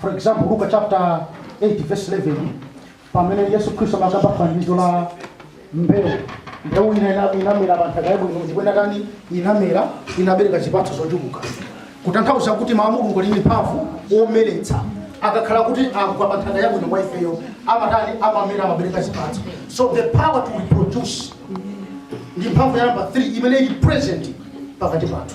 for example luka chapter 8 verse 11 pamene yesu khristu amakamba fanizo la mbewu mbewu ina inamera pa nthaka yabwino ndipo inatani inamera inabereka zipatso zochuluka kutanthauza kuti mawu a mulungu ali ndi mphamvu omeretsa akakhala kuti agwa pa nthaka yabwino kwa ifeyo amatani amamera amabereka zipatso so the power to reproduce ndi mphamvu ya namba 3 imene ili present pakati pathu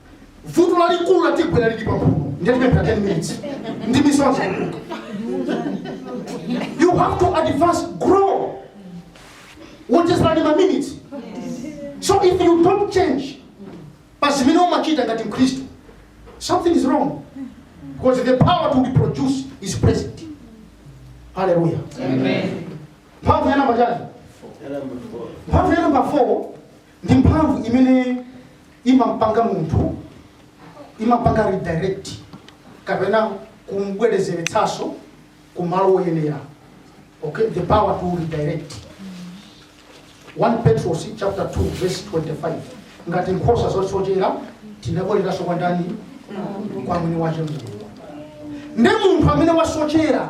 vuto lalikulu latigwera lili pamphuno ndiye tipemphere 10 minutes ndi misonzi you have to advance grow onjezerani ma minutes so if you don't change pa zimene umachita ngati mkhristu something is wrong because the power to reproduce is present haleluya mphamvu ya namba chani mphamvu ya namba 4 ndi mphamvu imene imampanga munthu imampanga redirect kapena kumbwerezeretsanso ku malo oyenera okay the power to redirect 1 petros chapter 2 verse 25 ngati nkhosa zosochera tinabwereranso kwa ndani kwa mwini wache mulungu ndi munthu amene wasochera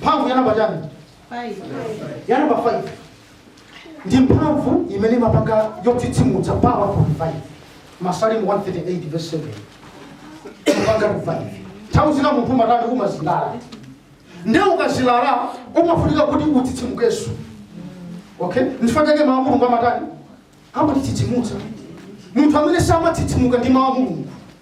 mphamvu ya namba chani ya namba 5 ndi mphamvu imene imapanga yotsitsimutsa power to revive masalimo 138 verse 7 kupanga revive nthawi zina munthu umatani umazilala nde ukazilala umafunika kuti utsitsimukenso okay nchifukwa chake mawu a mulungu amatani amatitsitsimutsa munthu amene samatsitsimuka ndi mawu a mulungu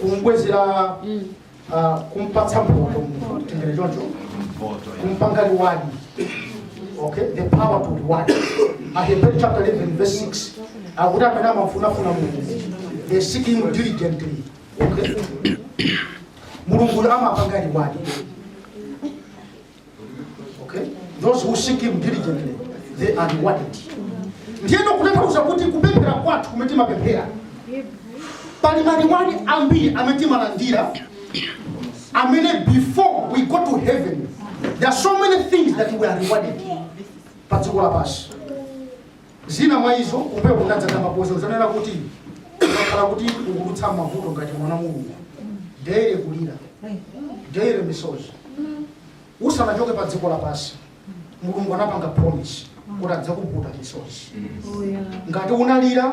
kumbwezera ah, kumpatsa mphoto tingonena choncho mphoto, yeah. kumpanga reward okay the power to reward ahebrew chapter 11 verse 6 akuti amene amafunafuna mulungu they seek him diligently okay mulungu amapanga reward Okay? Those who seek him diligently, they are rewarded. Ndiyeno kutanthauza kuti kupemphera kwathu kumene timapemphera pali ma reward ambiri amene timalandira amene before we go to heaven there are so many things that we are rewarded pa dziko lapansi Zina mwa izo, kumbuyoku ndinapanga mapoint zonena kuti ukakhala kuti ukudutsa m'mavuto ngati mwana wa Mulungu, daily kulira, daily misozi. Usanachoke pa dziko lapansi, Mulungu anapanga promise kuti adzakupukuta misozi. Ngati unalira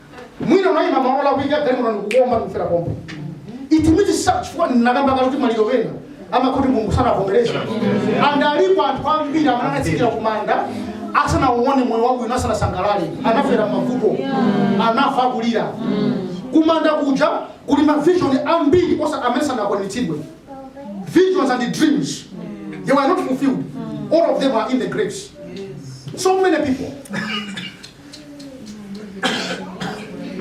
mwina unayima malo olakwika galimoto ndikugomba ndikufera pompo it means chifukwa ndinakamba kale kuti maliro wena amakuti mulungu sanavomereza and alipo anthu ambiri amene anatsikira kumanda asanauone moyo wabwino asanasangalale anafera mavuto anafa akulira kumanda kuja kuli mavisioni ambiri oti amene sanakwaniritsidwe visions and dreams they were not fulfilled all of them are in the graves so many people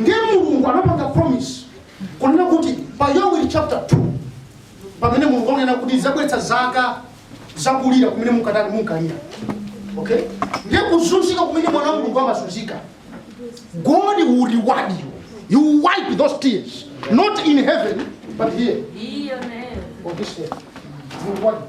ndiye mulungu anapanga promise kunena kuti pa yoweli chapter 2 pamene mulungu akunena kuti zabweretsa zaka zakulira kumene munkatani munkalira okay ndiye kuzunzika kumene mwana wa mulungu amazunzika god will reward you he'll wipe those tears not in heaven but here on this earth he'll reward you.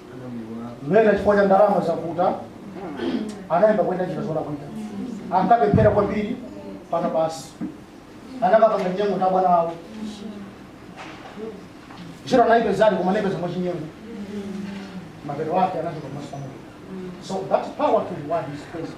Ena chifukwa cha ndalama zakuta anayamba kuyenda njira zolakwika, ankapemphera kwambiri pana basi, anakapanga chinyengo ndi abwana awo ntchito anayipezadi koma anayipeza mwachinyengo mapeto ake anachoka pamaso pa Mulungu. So that power to reward is present.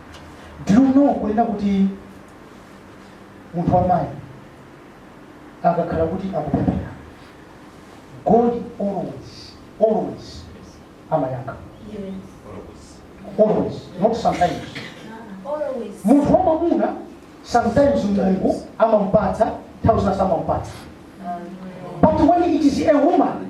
Do you know kunena kuti munthu wamayi akakhala kuti akupemphera God always always amayankha always not sometimes munthu wamwamuna sometimes mulungu amampatsa nthawi zina samampatsa but when it is a woman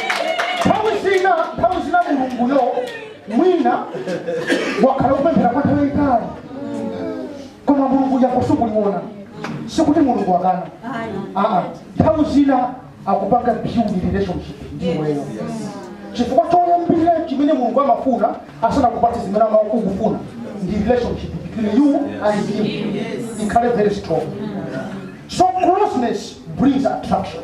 nthawi zina nthawi zina mulunguyo mwina wakhala kupemphera kwa nthawi yayitali koma mulungu yankho sukuliona sikuti mulungu akana aa nthawi zina akupanga build relationship ndiweyo chifukwa choyambirira chimene mulungu amafuna asanakupatse zimene amakufuna ndi relationship between you and him ikhale very strong so closeness brings attraction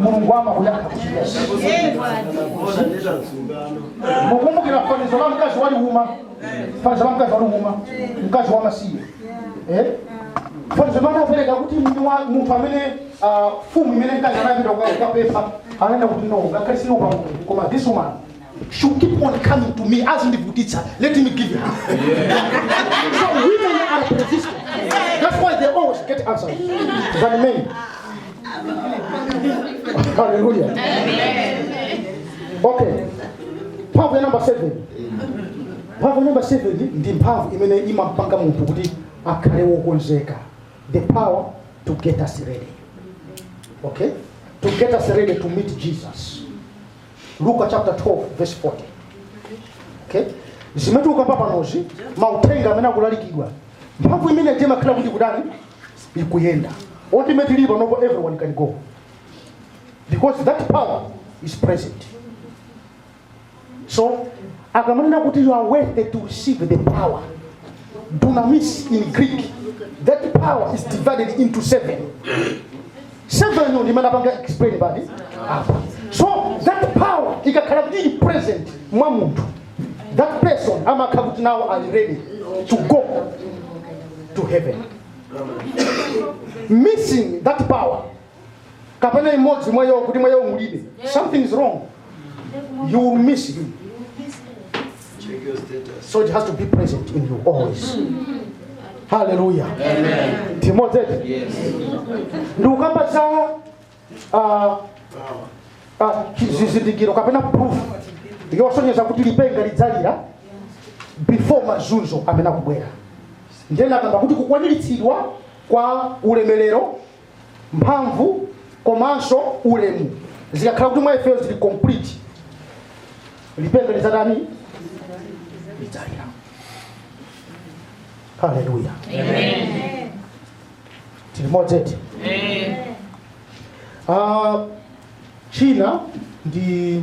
mulungu amakuyankha kuti yes mukumbukira fanizo la mkazi waliuma fanizo la mkazi waliuma mkazi wa masiye eh? fanizo limene anapereka kuti mwini wa- munthu amene ah, fumu imene mkazi anapita kuka- kukapempha ananena kuti no ngakhale sindiopa mulungu koma this woman She will keep on coming to me as ndivutitsa. Let me give her. so women are persistent. That's why they always get answers than men. Hallelujah. Okay. Mphamvu ya number seven. Mphamvu ya number seven ndi- ndi mphamvu imene imapanga munthu kuti akhale wokonzeka. The power to get us ready. Okay? To get us ready to meet Jesus. luka chapter 12 verse 40 okay zimene tikukamba panozi mauthenga amene akulalikidwa mphamvu imene timakhala kuti kutani ikuyenda ultimately pano everyone can go because that power is present so akamanena kuti you are worthy to receive the power dunamis in greek that power is divided into seven 7 yo ndinapanga explain pati apa so that power ikakhala kuti ili present mwa munthu that person amakhala kuti now ali ready to go to heaven missing that power kapena imodzi mwa iyo kuti mwa iyo mulibe something is wrong you will miss it Check your status. So it has to be present in you always. Hallelujah. Amen. Tili limodzi? Yes. Ndikukamba za ah, ah, chizindikiro kapena proof yosonyeza kuti lipenga lidzalira before mazunzo amene akubwera. Ndiye ndinakamba kuti kukwaniritsidwa kwa ulemerero mphamvu komanso ulemu zikakhala kuti mwa ifeyo zili complete lipenga lidzatani lidzalira haleluya tili limodzi eti Ah, china ndi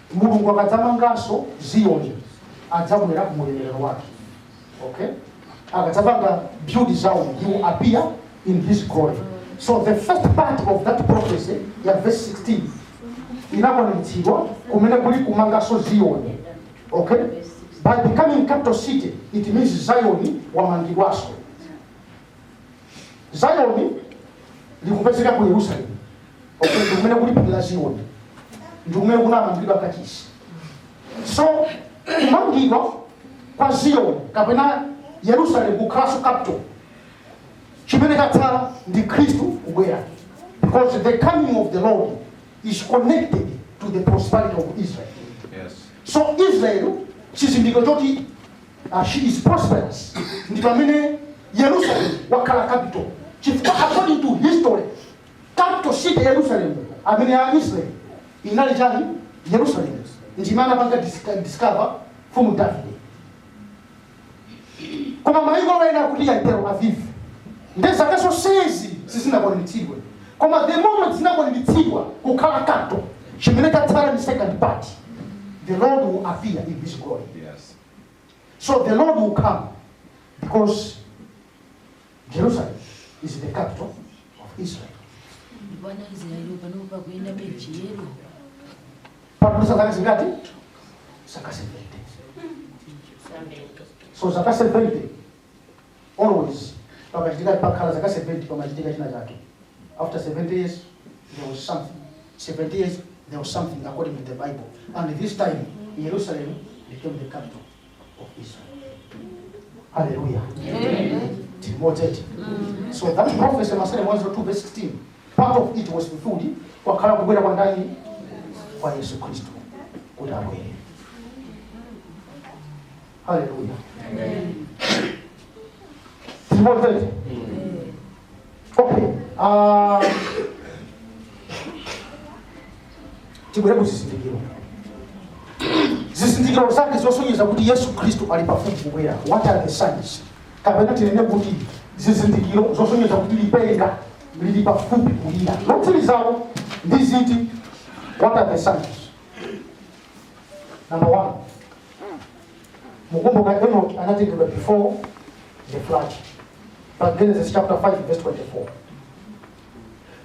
Mulungu akadzamanganso Ziyoni adzabwera mu ulemerero wake. Okay? Akadzapanga build Zion, he will appear in his glory. So the first part of that prophecy ya verse 16 inakwaniritsidwa kumene kuli kumanganso Ziyoni. Okay? By becoming capital city, it means Zion wamangidwanso. zayoni likupezeka ku yerusalemu okay, ndikumene kuli phiri la ziyoni ndikumene kunamangidwa kachisi so kumangidwa kwa ziyoni kapena yerusalemu kukhalanso capital chimene chatsala ndi khristu kubwera because the coming of the lord is connected to the prosperity of israel Yes. so israel chizindikiro choti Uh, she is prosperous. Ndi pamene Yerusalemu wakhala capital. Chifukwa according to history, capital city Yerusalemu amene ya Israel inali chani Yerusalemu. Ndinapanga dis- discover from David. Koma maiko ena akuti ya Tel Aviv. Ndiye zaka zonsezi sizinakwaniritsidwe. Koma the moment zinakwaniritsidwa kukhala capital chimene chatsala ndi second part. The Lord will appear in his glory. Yes. So the Lord will come because Jerusalem is the capital of Israel. Bwana Israeli panopa kuenda bechiyero Pano zaka zingati? Zaka 70. So zaka 70 always pakachitika pakhala zaka 70 pamachitika china chake after 70 years there was something 70 years there was something according to the bible and this time jerusalem became the capital of israel hallelujah tili limodzi eti so that prophecy masalimo 102 verse 16 part of it was fulfilled kwakhala kubwera kwa ndani kwa yesu khristu kuti abwere haleluya tili limodzi eti okay ah, tibwere kuzizindikiro zizindikiro zake zosonyeza kuti yesu khristu ali pafupi kubwera what are the signs kapena tinene kuti zizindikiro zosonyeza kuti lipenga lili pafupi kulira lotsirizawo ndi ziti what are the signs number one mukumbuka enoki anatengedwa before the flood pa genesis chapter 5 verse 24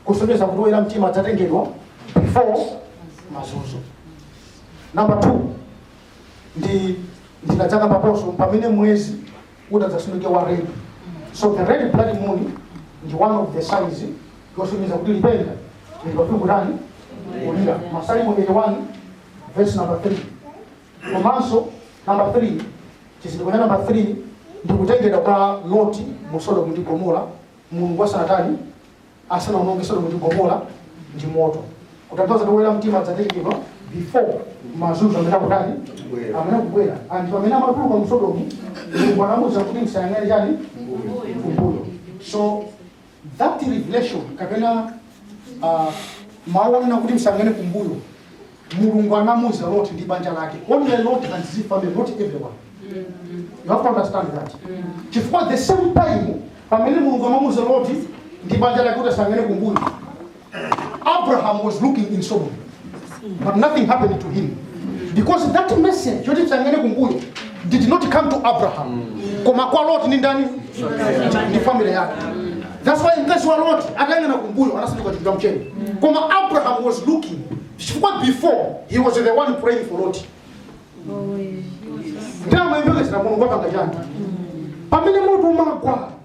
kusonyeza kuti woyera mtima adzatengedwa before mazunzo number two ndi ndinadzakambaponso pamene mwezi utadzasanduke wa red so the red blood moon ndi one of the signs yosonyeza kuti lipenga lili pafupi kutani kulira masalimo 81 verse number 3 komanso number 3 chizindikiro cha number 3 ndi kutengedwa kwa loti mu sodomu ndi gomora mulungu asanatani asanaononge sodomu ndi gomora ndi moto kutanthauza kuti woyera mtima adzatengedwa before mazunzo amene akutani Kubwera. amene akubwera anthu amene amatuluka mu sodomu mulungu anamuuza kuti msayang'ane chani kumbuyo so That revelation kapena uh, mawu onena kuti msayang'ane kumbuyo mulungu anamuuza loti ndi banja lake only lot and his family not everyone you have to understand that chifukwa the same time pamene mulungu amamuuza loti ndi banja lake kuti asayang'ane kumbuyo Abraham was looking in Sodom, but nothing happened to him because that message yoti msayang'ane kumbuyo did not come to Abraham. Koma kwa Lot ni ndani? Ni family yake. That's why mkazi wa Lot atayang'ana kumbuyo anasanduka chulu cha mchere. Koma Abraham was looking. Chifukwa before he was the one praying for Lot. Nde amayembekezera Mulungu apanga chani. Pamene moto umagwa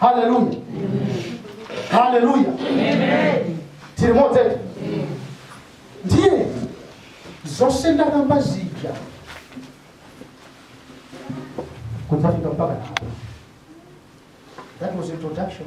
haleluya haleluya tili limodzi eti ndiye zonse ndakamba zija kudzafika mpaka apo that was introduction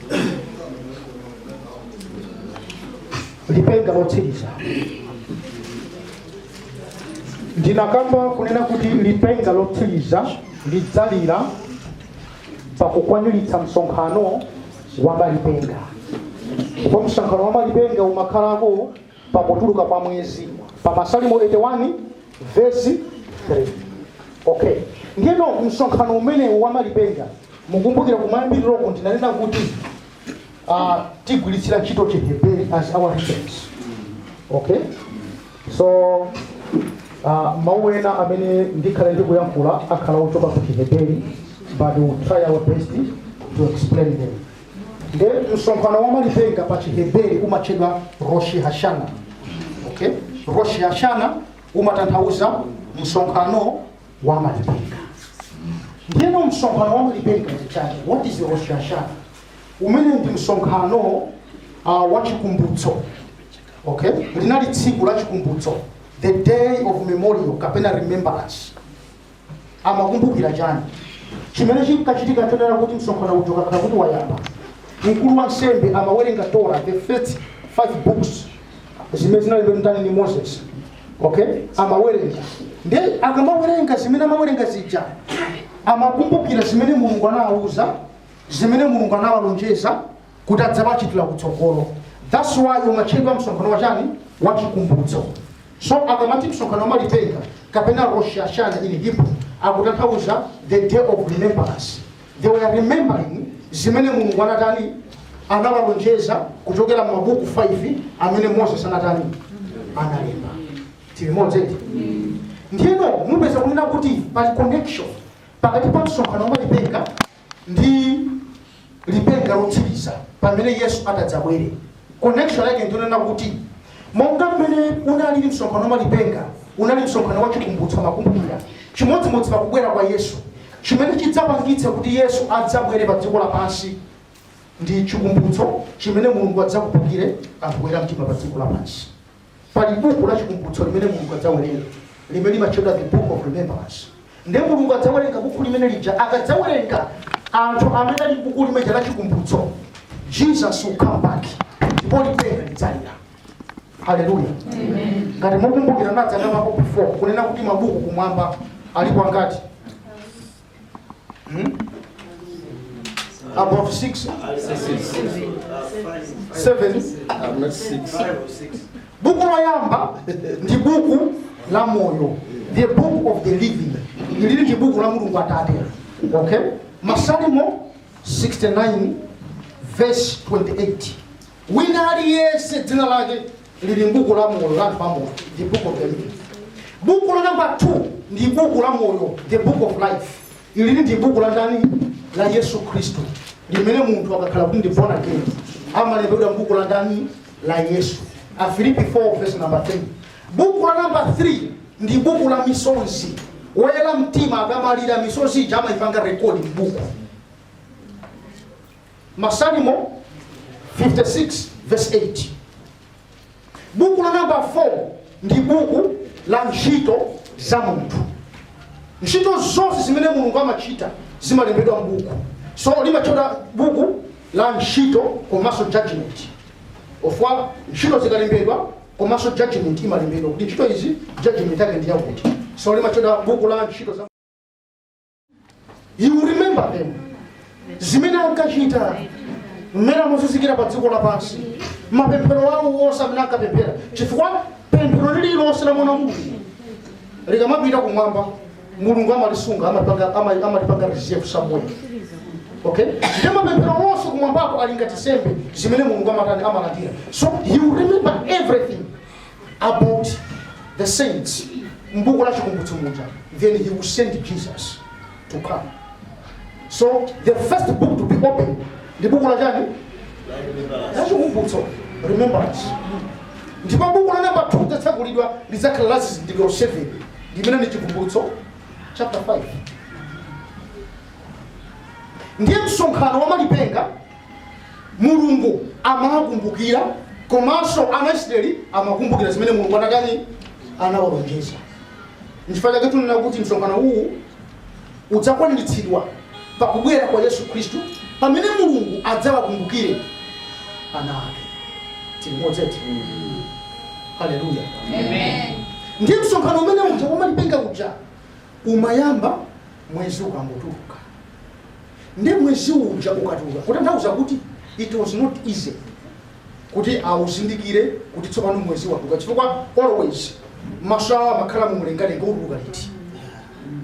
lipenga lotsiriza ndinakamba kunena kuti lipenga lotsiriza lidzalira pakukwaniritsa msonkhano wa malipenga ndipo msonkhano wa malipenga umakhalako pakutuluka kwa mwezi pa masalimo 81 vesi 3 okay ngeno msonkhano umenewu wa malipenga mukumbukira kumayambiriroko ndinanena kuti uh, tigwiritsira ntchito chiheberi as our reference okay so uh, mawu ena amene ndikhale ndikuyankhula akhala ochoka ku chiheberi but we will try our best to explain them nde msonkhano wa malipenga pa chiheberi umatchedwa roshi hashana okay? roshi hashana umatanthauza msonkhano wa malipenga ndiyeno msonkhano wa malipenga ndi chani what is roshi hashana umenewu ndi msonkhano uh, wa chikumbutso okay? linali tsiku la chikumbutso the day of memorial kapena remembrance amakumbukira chani chimene chinkachitika nchonena kuti msonkhano uja ukakhala kuti wayamba mkulu wa nsembe amawerenga tora the first five books zimene zinalembedwa ndani ni moses okay amawerenga nde akamawerenga zimene amawerenga zija amakumbukira zimene mulungu anawauza zimene mulungu anawalonjeza kuti adzawachitira kutsogolo thats why umatchedwa msonkhano wa chani wa chikumbutso so akamati msonkhano wa malipenga kapena rosh hashana in hebrew akutanthauza the day of remembrance they were remembering zimene mulungu anatani anawalonjeza kuchokera m'mabuku 5 amene moses anatani analemba tili limodzi eti ndiyeno mupeza kunena kuti pali connection pakati pa msonkhano wa malipenga ndi lipenga lotsiriza pamene yesu atadzabwere connection yake ndi yonena kuti monga mmene unalili msonkhano wa lipenga unali msonkhano wa chikumbutso amakumbukira chimodzimodzi pakubwera kwa yesu chimene chidzapangitse kuti yesu adzabwere pa dziko lapansi ndi chikumbutso chimene mulungu adzakumbukire anthu oyera mtima pa dziko lapansi Pali buku la chikumbutso limene Mulungu adzawerenga limene limatchedwa The Book of Remembrance. Ndiye Mulungu adzawerenga buku limene lija, akadzawerenga anthu amene ali m'buku limeja la chikumbutso, Jesus will come back ndipo lipenga lidzalira. Haleluya. Ngati mukumbukira nadzakambapo before kunena kuti mabuku kumwamba alipo angati? Hmm? Above six. Seven. I'm not six. Buku loyamba ndi buku la moyo. The book of the living. Ili ndi buku la Mulungu Atate. Okay? Masalimo 69 verse 28. Wina aliyense dzina lake lili m'buku la moyo la anthu amoyo the book of the living buku la namba 2 ndi buku la moyo the book of life ilili ndi buku la ndani la yesu khristu limene munthu akakhala kuti ndi born again amalembedwa m'buku la ndani la yesu afilipi 4 verse number 10 buku la namba 3 ndi buku la misonzi woyera mtima akamalira misonzi ija amaipanga rekodi m'buku masalimo 56 verse 8 buku la namba 4 ndi buku la ntchito za munthu ntchito zonse zimene mulungu amachita zimalembedwa mbuku so limatchedwa buku la ntchito komanso judgment chifukwa ntchito zikalembedwa komanso judgment imalembedwa kuti ntchito izi judgment yake ndi yakuti so limatchedwa buku la ntchito za you remember them zimene ankachita mmene amazunzikira pa dziko lapansi mapemphero awo onse amene ankapemphera chifukwa pemphero lililonse la mwana wa mulungu likamapita kumwamba mulungu amalisunga amalipanga- ama- amalipanga reserve somewhere okay ndi mapemphero onse kumwambako ali ngati nsembe zimene mulungu amatani amalandira so he will remember everything about the saints mbuku la chikumbutso muja then he will send jesus to come so the first book to be opened ndi buku la chani la chikumbutso remembrance ndipo buku la namba 2 lidzatsekulidwa lidzakhala la zizindikiro 7 limene ndi chikumbutso chapter 5 ndiye msonkhano wa malipenga Mulungu amawakumbukira komanso Aisiraeli amakumbukira zimene Mulungu anatani anawalonjeza. Nchifukwa chake tikunena kuti msonkhano uwu udzakwaniritsidwa pa kubwera kwa Yesu Khristu pamene Mulungu adzawakumbukire ana ake. Tili modzeti. Haleluya. Amen. Ndiye msonkhano umene uja wa malipenga uja umayamba mwezi ukangotuluka ndiye mwezi uja ukatuluka kutanthauza kuti it was not easy kuti auzindikire kuti tsopano mwezi watuluka chifukwa always maso awo amakhala mumlengalenga utuluka liti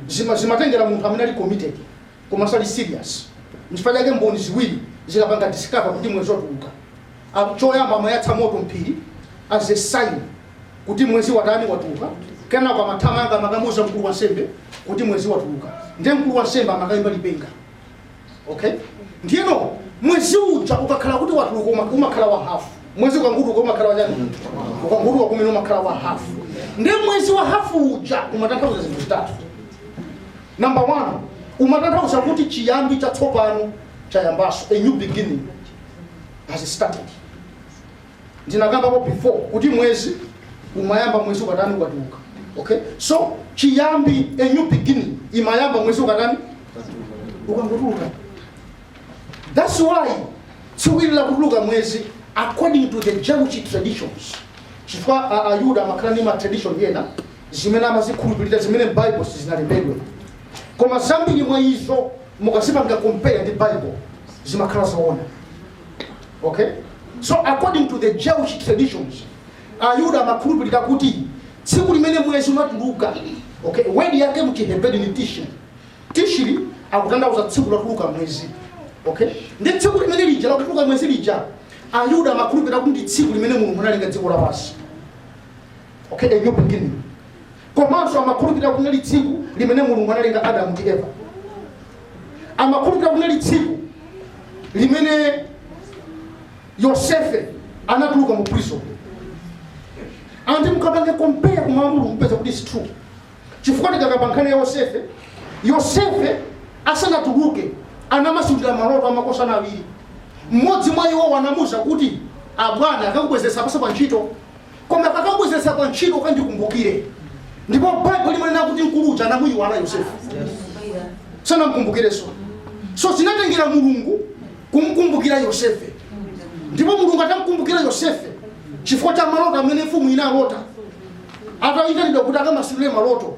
Zima- zimatengera munthu amene ali committed komanso ali serious nchifukwa chake mboni ziwiri zikapanga discover kuti mwezi watuluka Am- choyamba amayatsa moto mphiri as a sign kuti mwezi watani watuluka kenako amathamanga amakamuuza mkulu wa nsembe kuti mwezi watuluka ndiye mkulu wa nsembe amakayimba lipenga okay ndiyeno mwezi uja ukakhala kuti watuluka uma- umakhala wa hafu mwezi ukangutuka umakhala watani ukangutuka kumene umakhala wa hafu ndiye mwezi wa hafu uja umatanthauza zinthu zitatu number one umatanthauza kuti chiyambi chatsopano chayambaso a new beginning has started ndinakambapo before kuti mwezi umayamba mwezi ukatani ukatuluka okay so chiyambi a new beginning imayamba mwezi ukatani ukangotuluka that's why tsiku ili lakutuluka mwezi according to the jewish traditions chifukwa a- ayuda amakhala ndi matradition ena zimene amazikhulupirira zimene m'bible sizinalembedwe koma zambiri mwa izo mukazipanga compare ndi bible zimakhala zoona okay so according to the jewish traditions ayuda amakhulupirira kuti tsiku limene mwezi unatuluka okay wedi yake mchiheberi ni tishiri tishiri akutanthauza tsiku lotuluka mwezi okay ndi tsiku limene lija lakutuluka mwezi lija ayuda amakhulupirira kuti ndi tsiku limene mulungu analenga dziko lapansi okay a new beginning komanso amakhulupirira kuti linali tsiku limene mulungu analenga adamu ndi eva amakhulupirira kuti linali tsiku limene yosefe anatuluka mu prison and mukapanga compare ku mawu a mulungu mupeza kuti it's true chifukwa tikakamba nkhani ya yosefe yosefe asanatuluke anamasulira maloto amakosana awiri mmodzi mwa iwo anamuuza kuti abwana akakubwezeretsapaso pa ntchito koma akakubwezeretsa pa ntchito kandikumbukire ndipo baibulo limanena kuti mkulu uja anamuyiwala yosefe sanamkumbukireso so zinatengera mulungu kumkumbukira yosefe ndipo mulungu atamkumbukira yosefe chifukwa cha maloto amene mfumu inalota atayitanidwa kuti akamasulire maloto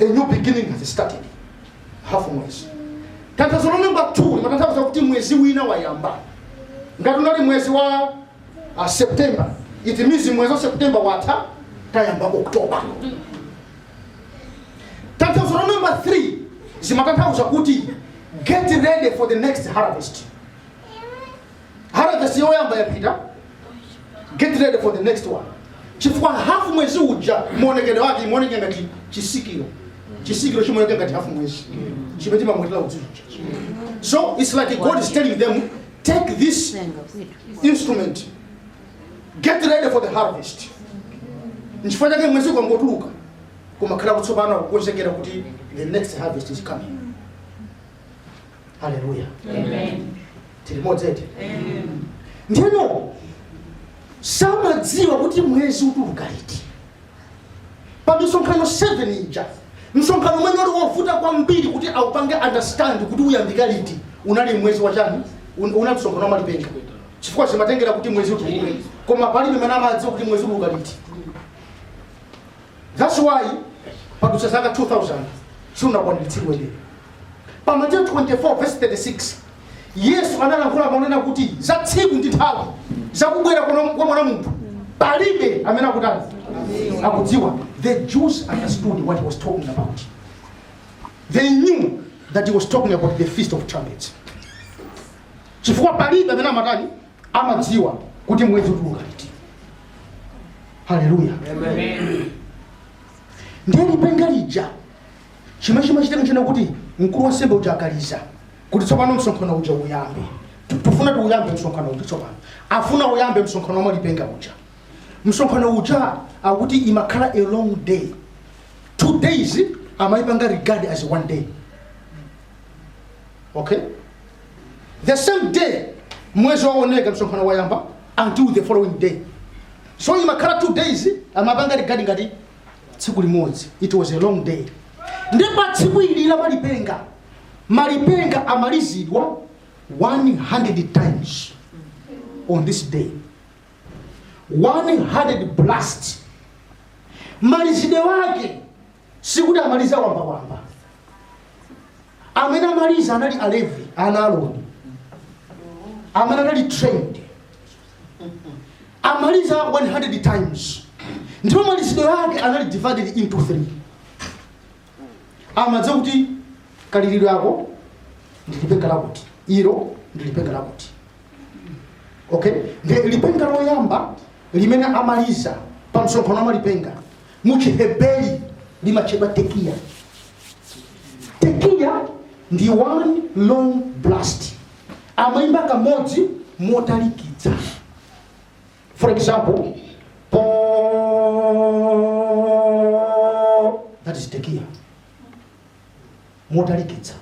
a new beginning has started half mwezi tanthauzo la namba 2 limatanthauza kuti mwezi wina wayamba ngati unali mwezi wa uh, september it means mwezi wa september watha tayamba oktoba tanthauzo la namba 3 zimatanthauza kuti get ready for the next harvest harvest yoyamba yapita get ready for the next one chifukwa hafu mwezi uja maonekedwe ake umaoneka ngati chisikiro chisikiro chimaoneka ngati hafu mwezi chimene timamwetera udzu so it's like god is telling them take this instrument get ready for the harvest nchifukwa chake mwezi ukangotuluka kumakhala kuti tsopano kukonzekera kuti the next harvest is coming haleluya tili limodzi eti ndiyeno samadziwa kuti mwezi utuluka liti pa misonkhano 7 ija msonkhano umene uli wovuta kwambiri kuti aupange understand kuti uyambika liti unali mwezi wachani un- una msonkhano wa malipenga chifukwa zimatengera kuti mwezi utuluke koma palibe amene amadziwa kuti mwezi utuluka liti That's why padutsa zaka 2000 sunakwaniritsidwebe. Pa Mateyu 24 verse 36 Yesu analankhula monena kuti za tsiku ndi nthawi zakubwera kwa kwa mwana wa munthu palibe amene akutani akudziwa. The Jews understood what he was talking about. They knew that he was talking about the feast of trumpets. Chifukwa palibe amene amatani amadziwa kuti mwezi utuluka liti haleluya ndiye lipenga lija chimene chimachitika n'chonena kuti mkulu wansembe uja akaliza kuti tsopano msonkhano uja uyambe Tu- tufuna tiuyambe msonkhano uja tsopano afuna uyambe msonkhano wa malipenga uja msonkhano uja akuti imakhala a long day two days amayipanga regard as one day okay the same day mwezi waoneka msonkhano wayamba until the following day so imakhala two days amapanga regard ngati tsiku limodzi it was a long day ndi pa tsiku ili la malipenga malipenga amalizidwa 100 times on this day 100 blast malizidwe wake sikuti amaliza wambawamba amene amaliza anali alevi ana a Aroni amene anali trained amaliza 100 times ndipo malizidwe yake anali divided into 3 amadziwa kuti kalilidwe ako ndilipenga lakuti ilo ndilipenga lakuti okay ndi lipenga loyamba limene amaliza pa msonkhano wa malipenga mu chiheberi limatchedwa tekiya tekiya ndi one long blast amaimba kamodzi motalikitsa for example po that is tekiya motalikitsa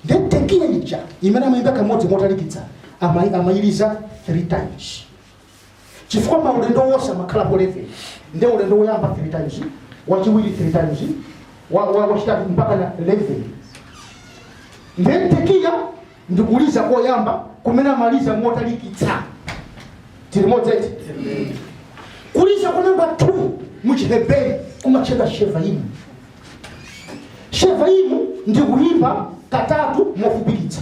nde tekiya ija imene amaimba kamodzi motalikitsa amai- amailiza three times chifukwa maulendo wonse amakhalapo 11 nde ulendo woyamba 3 times wachiwiri 3 times wa- wa- wachitatu mpaka na 11 nde tekiya ndi kuliza koyamba kumene amaliza motalikitsa tilimodzi eti kuliza kwa namba 2 muchiheberi kumatchedwa shevaimu shevaimu ndi kuyimba katatu mofupikitsa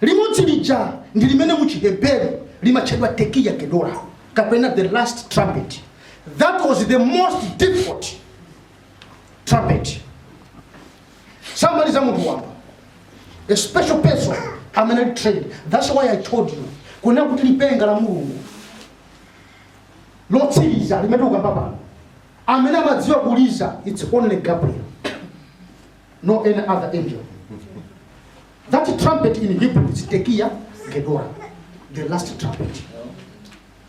Limodzi lija ndi limene mu Chiheberi limatchedwa Tekiya Gedola, kapena the last trumpet. That was the most difficult trumpet. Samaliza ndi munthu wamba, a special person amene ali trained. That's why I told you kunena kuti lipenga la Mulungu lotsiriza limene tikukamba pano amene amadziwa kuliza it's only Gabriel. no any other angel. That trumpet in Hebrew is Tekia Gedola, the last trumpet.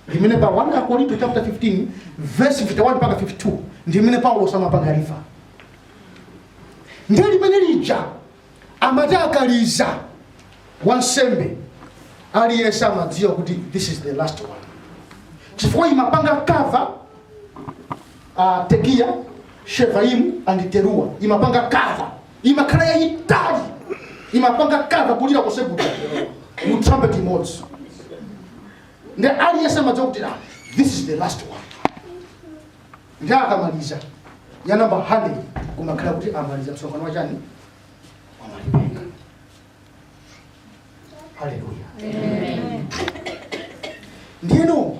Limene pa 1 Akorinto chapter 15 verse 51 mpaka 52 ndimene Paulos amapanga refer. Ndiye limene lija amati akaliza wansembe aliyense amadziwa kuti this is the last one. Chifukwa imapanga cover a Tekiya, Shevaimu and Teruwa imapanga cover imakhala yayitali imapanga cover kulira konse kutatu mu trumpet imodzi ndiye aliyense amadziwa kuti ah, this is the last one ndiye akamaliza ya namba 100 kumakhala kuti amaliza msonkhano wachani wamalipenga haleluya ndiyeno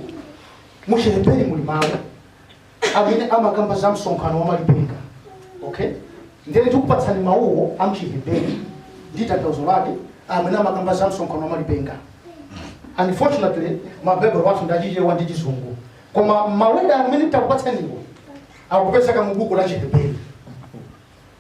muchiheberi muli mawu amene amakamba za msonkhano wa malipenga okay ndiyeno tikupatsani mawuwo amchiheberi ndi tanthauzo lake amene amakamba za msonkhano wa malipenga unfortunately mabaibulo athu ndi achichewa ndi chizungu koma maweda amene takupatsaniwo akupezeka mu buku la chiheberi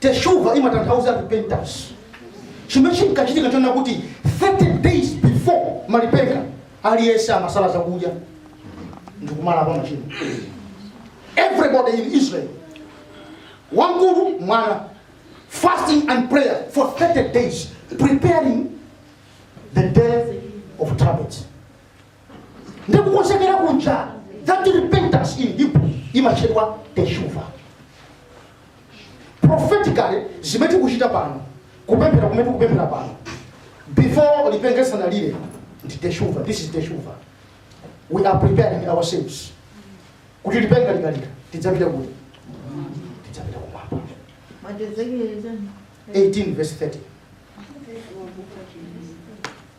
Teshuvah imatanthauza repentance. Chimene chinkachitika nchonena kuti 30 days before malipenga aliyense amasala zakudya ndikumalapa machimo. Everybody in Israel wamkulu mwana fasting and prayer for 30 days preparing the day of trumpets. nde kukonzekera kuja that repentance in hebrew imatchedwa teshuva prophetically zimene tikuchita pano kupemphera kumene tikupemphera pano before lipenga lisanalire ndi teshuva this is teshuva we are preparing ourselves kuti lipenga likalira tidzapita kuti tidzapita kumwamba Ezekieli chani? 18 verse 30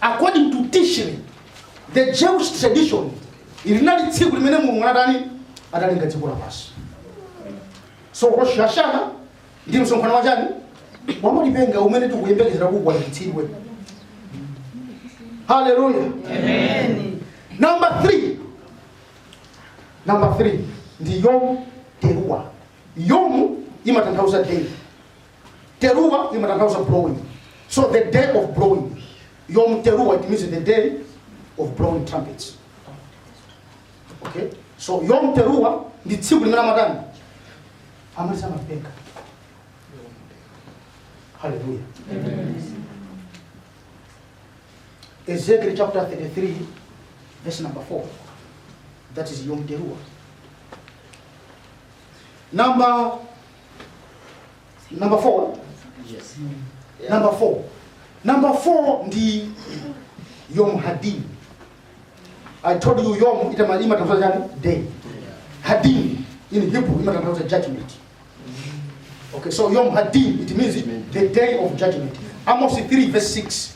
according to tishri the jewish tradition ili linali tsiku limene mulungu anatani adalenga dziko lapansi so rosh hashana ndi msonkhano wa chani wa malipenga umene tikuyembekezera kukwaniritsidwe haleluya number 3 number 3 ndi yom terua yom imatanthauza day Teruwa imatanthauza blowing. So the day of blowing. Yom Teruwa it means the day of blowing trumpets. Okay? So Yom Teruwa ndi tsiku limene amatani? Amaliza malipenga. Hallelujah. Ezekiel chapter 33 verse number 4. That is Yom Teruwa. Number number 4 Yes. number 4 number 4 ndi yom hadin i told you yom itama- imatanthauza chani day hadin in hebrew imatanthauza judgment okay so yom hadin it means the day of judgment amos 3 verse 6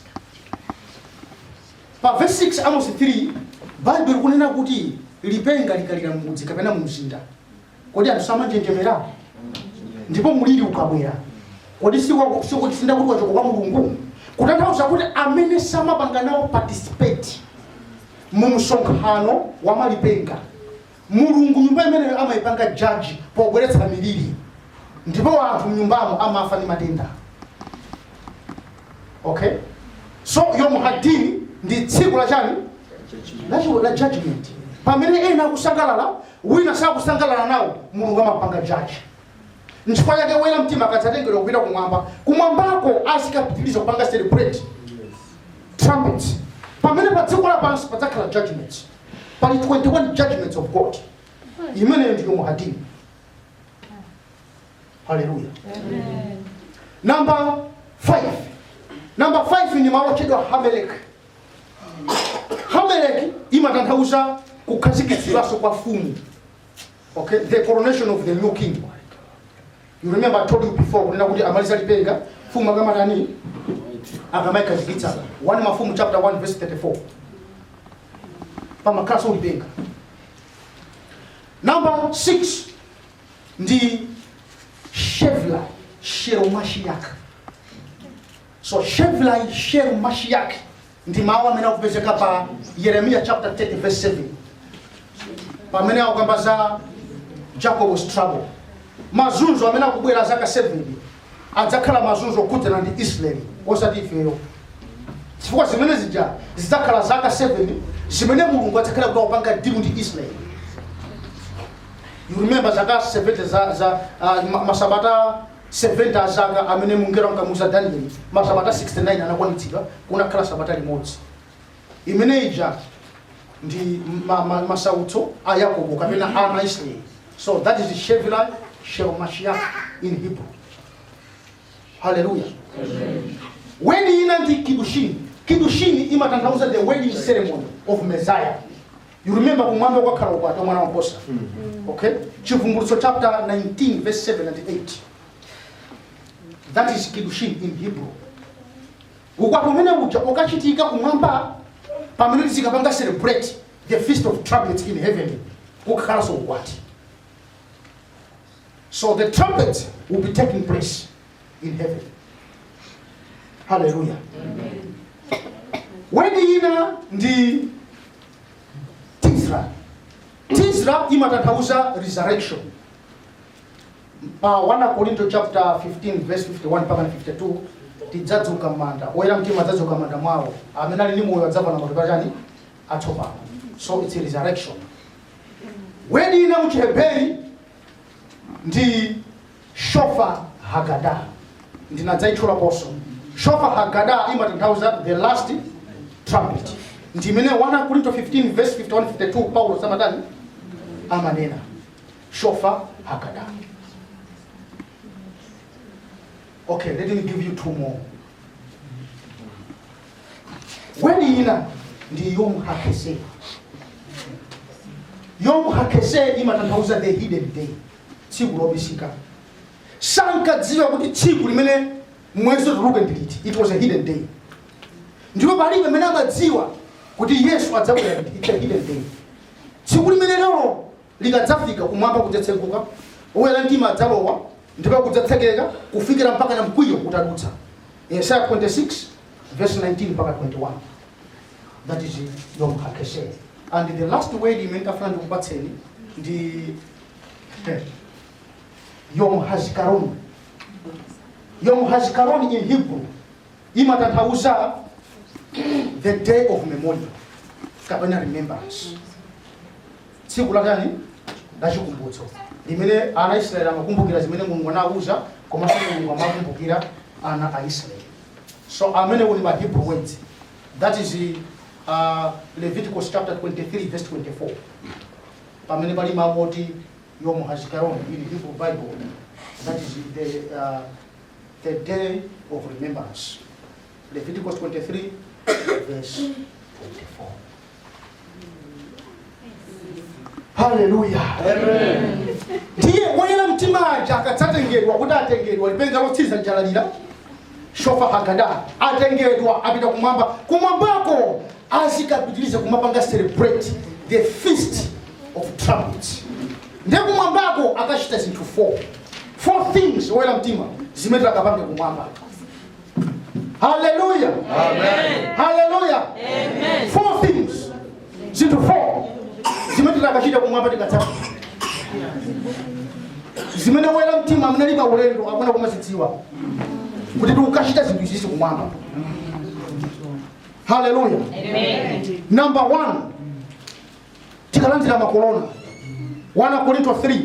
pa verse 6 amos 3 bible ikunena kuti lipenga likalira mmudzi kapena mumzinda kodi anthu samanjenjemera ndipo muliri ukabwera kodi sikwa- sikuti si ndi kuti wachoka kwa mulungu kutanthauza kuti amene samapanga nawo participate mu msonkhano wa malipenga mulungu nyumba imeneyo amayipanga judge pobweretsa miliri ndipo anthu mnyumbamo amafa ndi matenda okay so yom hadin ndi tsiku la chani la chi- la judgment pamene ena akusangalala wina sakusangalala nawo, Mulungu amawapanga judge. Nchifukwa chake oyera mtima akadzatengedwa kupita kumwamba, kumwambako azikapitiriza kupanga celebrate trumpets. Pamene pa dziko lapansi padzakhala judgment, pali 21 judgments of God. Imeneyo ndi Yom Hadin. Haleluya. Number 5. Number 5 ndi malo otchedwa Hamelek. hamelek imatanthauza kukhazikitsidwanso kwa mfumu okay the coronation of the new king you remember i told you before kunena kuti amaliza lipenga mfumu akamatani akamayikhazikitsa 1 mafumu chapter 1 verse 34 pamakhalaso lipenga number 6 ndi shevla shel mashiach So Shevlai shel Mashiach ndi mawu amene akupezeka pa Yeremiya chapter 30 verse 7 pamene akukamba za Jacob's trouble mazunzo amene akubwera zaka 7 adzakhala mazunzo okhudzana ndi Israel osati ifeyo chifukwa zimene zija zidzakhala zaka 7 zimene mulungu adzakhala kuti akupanga deal ndi Israel you remember zaka 70 za, za uh, ma- masabata 70 a zaka amene mngelo ankamuuza Danieli masabata 69 anakwanitsidwa, kunakhala sabata limodzi. Imene ija ndi ma, ma, masautso a Yakobo kapena a ana Israeli. So that is Shevlai Shel Mashiach in Hebrew. Hallelujah. Word ina ndi kidushini. Kidushini imatanthauza the wedding ceremony of Messiah. You remember kumwamba kukakhala ukwati wa mwana wa nkhosa. Okay? Chivumbulutso chapter 19 verse 7 and 8. That is kiddushin in Hebrew. Ukwati umene uja ukachitika kumwamba pamene tizikapanga celebrate the feast of trumpets in heaven kukhalanso ukwati. So the trumpet will be taking place. in heaven. Hallelujah. Word ina ndi Tisra. Tisra imatanthauza resurrection. Pa 1 Korinto chapter 15 verse 51 mpaka 52 tidzadzuka m'manda. Oyera mtima adzadzuka m'manda mwawo. Amene ali ndi moyo adzavala matupi achani atsopano. So it's a resurrection. Word ina mu Chiheberi ndi Shofar Haggadah, ndinadzaitchulaponso. Shofar Haggadah imatanthauza the last trumpet. Ndi imene 1 Akorinto 15 verse 51 52 Paulo samatani amanena. Shofar Haggadah. Okay, let me give you two more. Weli ina ndi Yom HaKeseh. Yom HaKeseh imatanthauza the hidden day. tsiku lobisika sankadziwa kuti tsiku limene mwezi utuluke ndi liti it was a hidden day ndipo palibe amene amadziwa kuti yesu adzabwera liti it's a hidden day tsiku limenelo likadzafika kumwamba kudzatseguka oyera mtima adzalowa ndipo kudzatsekeka kufikira mpakana mkwiyo utadutsa yesaya 26 verse 19 mpaka 21 that is yom hakeseh and the last word imene ndafuna ndikupatseni ndi Yom Hazikaron. Yom Hazikaron in Hebrew imatanthauza the day of memorial kapena remembrance. Tsiku la chani la chikumbutso limene ana Israeli amakumbukira zimene Mulungu anawauza komanso Mulungu amakumbukira ana a Israeli. So amenewo ndi ma Hebrew words that is uh, Leviticus chapter 23 verse 24. pamene pali mawu oti Yom Hazikaron in Hebrew Bible, that is the, uh, the day of remembrance. Leviticus 23, verse 24. haleluya ndiye woyera mtima aja akadzatengedwa kuti atengedwa lipenga lotsiriza nja lalira shofar hagadol atengedwa apita kumwamba kumwambako azikapitiriza kumapanga celebrate the feast of trumpets ndiye kumwambako akachita zinthu four four things oyera mtima zimene akapange kumwamba haleluya haleluya four things zinthu 4 zimene titakachita kumwamba tikadzakhala zimene woyera mtima amene ali pa ulendo akuyenera kumazidziwa kuti tikukachita zinthu izizi kumwamba haleluya number one tikalandira makolona 1 korinto 3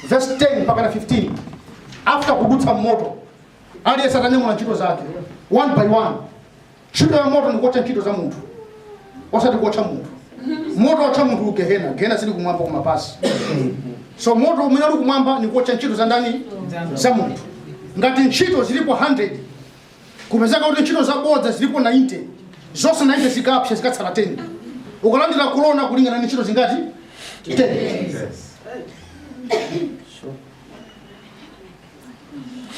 verse 10 mpaka na 15 after kudutsa mmoto aliyense atanyamula ntchito zake one by one Ntchito ya moto ndikuotcha ntchito za munthu osati kuotcha munthu. Moto otcha munthu ku gehena, gehena sili kumwamba koma pansi. So moto umene uli kumwamba ndi kuotcha ntchito za ndani? Za munthu. Ngati ntchito zilipo 100 kupezeka kuti ntchito zabodza zilipo 90 zonse 90 zikapsa zikatsala 10 ukalandira kolona kulingana ndi ntchito zingati 10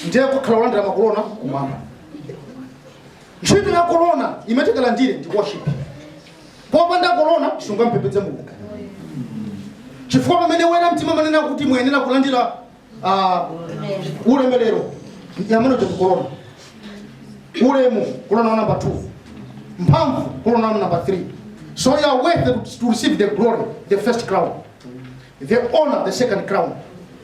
ndiye kukakhala kulandira makolona kumwamba ntchito ya kolona imene tikalandire ndi worship popanda kolona sungampembedze mulungu chifukwa pamene woyera mtima amanena kuti muyenera kulandira ah, ulemerero imene ndi kolona ulemu kolona wa number 2 mphamvu kolona wa number 3 so you are worthy to receive the glory the first crown the honor the second crown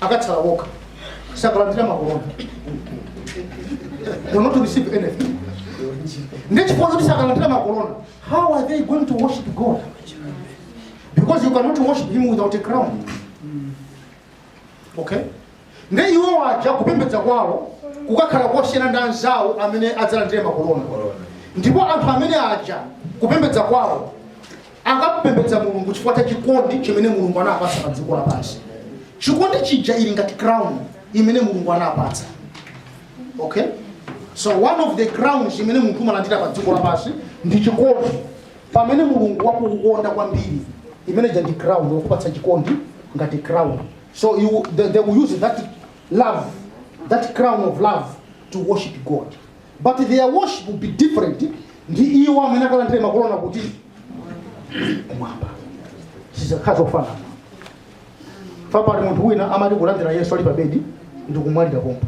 akatsala wokha sakalandira makolona will not receive anything ndi chifukwa choti sakalandira makolona how are they going to worship god because you cannot worship him without a crown okay ndiye iwo aja kupembedza kwawo kukakhala kosiyana ndi anzawo amene adzalandire makolona ndipo anthu amene aja kupembedza kwawo Akapembedza Mulungu chifukwa cha chikondi chimene Mulungu anawapatsa pa dziko lapansi. Chikondi chija ili ngati crown imene Mulungu anawapatsa. Okay? So one of the crowns imene munthu umalandira pa dziko lapansi ndi chikondi. Pamene Mulungu wakukonda kwambiri, imene ija ndi crown wakupatsa chikondi ngati crown. So you, they, they will use that love, that crown of love to worship God. but their worship will be different ndi iwo amene akalandire makolona kuti kumwamba sizakhala zofanana kapena pali munthu wina amati kulandira yesu ali pabedi ndi kumwalira pompo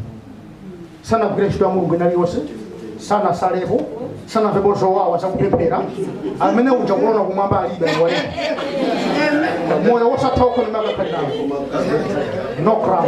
sanagwire ntchito ya mulungu ina iliyonse sanasalepo sanamvepo zowawa zakupemphera amene uja kolona kumwamba alibe aliwalira moyo wosatha uko ndimakakhalirawo no crown